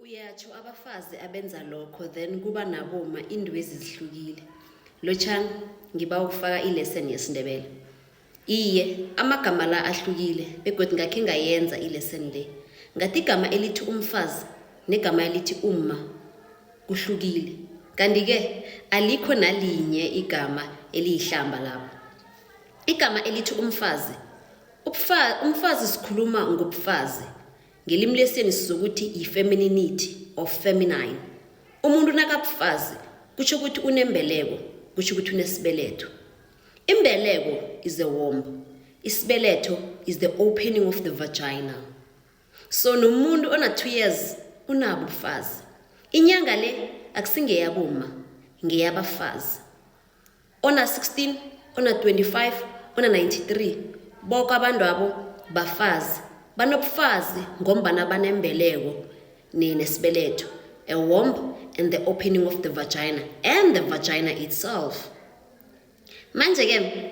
Uyatsho abafazi abenza lokho then kuba naboma indwezi zihlukile. Lotshani ngiba ukufaka ilesson yesiNdebele. Iye, amagama la ahlukile begodu ngakhe ngayenza ilesson le. Ngathi igama elithi umfazi negama elithi umma kuhlukile. Kanti-ke alikho nalinye igama eliyihlamba lapho. Igama elithi umfazi. Umfazi sikhuluma ngobufazi. ngelimi lesiyeni sizokuthi yi-femininity or feminine umuntu nakabufazi kutsho ukuthi unembeleko kutsho ukuthi unesibeletho imbeleko is the womb isibeletho is the opening of the vagina so nomuntu ona-two years unabo ubufazi inyanga le akusingeyaboma ngeyabafazi ona 16 ona 25 ona 93 boko abantu abo bafazi banobufazi ngombana banembeleko nesibeleto a womb and the opening of the vagina and the vagina itself manje-ke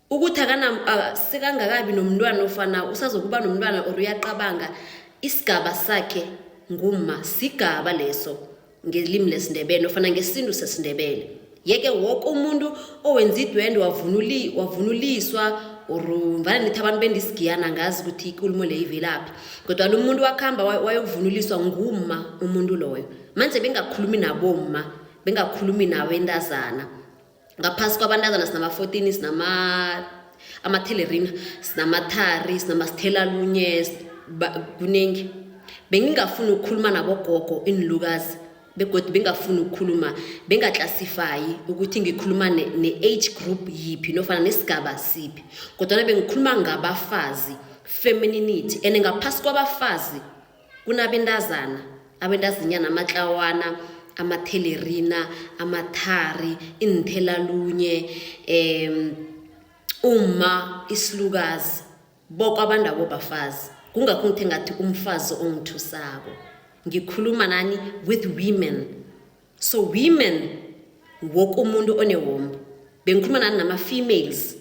ukuthi sekangakabi nomntwana ofana usazokuba nomntwana or uyaqabanga isigaba sakhe nguma sigaba leso ngelimi lesindebele ofana ngesintu sesindebele yeke woke umuntu owenza idwende wavunuliswa or mvana nithi abantu bendisigiyana ngazi ukuthi ikulumo le ivelaphi kodwa lo muntu wakuhamba wayokuvunuliswa ngumma umuntu loyo manje bengakhulumi nabomma bengakhulumi nawo entazana ngaphasi kwabantazana sinama-fourteen sinama amathelerina sinamathari sinamasithelalunye kuningi bengingafuni ukukhuluma nabogogo iinlukazi begodwa bengafuni ukukhuluma bengaklasifayi ukuthi ngikhuluma ne-age group yiphi nofana nesigaba siphi kodwana bengikhuluma ngabafazi femininity and ngaphasi kwabafazi kunabentazana abendazinyana amatlawana amathelerina amathari iinthelalunye um umma isilukazi boko abandabo bafazi kungakho ngithe ngathi umfazi ongithusako ngikhuluma nani with women so women woke umuntu onewombo bengikhuluma nani nama-females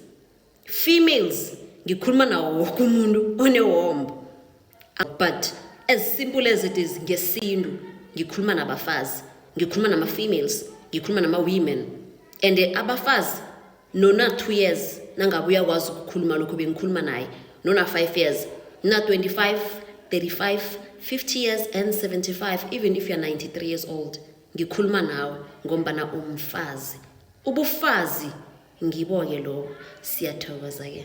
females ngikhuluma nawo woke umuntu onewombo but as simple as it is ngesintu ngikhuluma nabafazi ngikhuluma nama-females ngikhuluma nama-women and abafazi nona-two years nangabe uyakwazi ukukhuluma lokho bengikhuluma naye nona-five years na-25 35 50 years and 75 even if you're 93 years old ngikhuluma nawe ngombana umfazi ubufazi ngibo-ke lobo siyathokoza-ke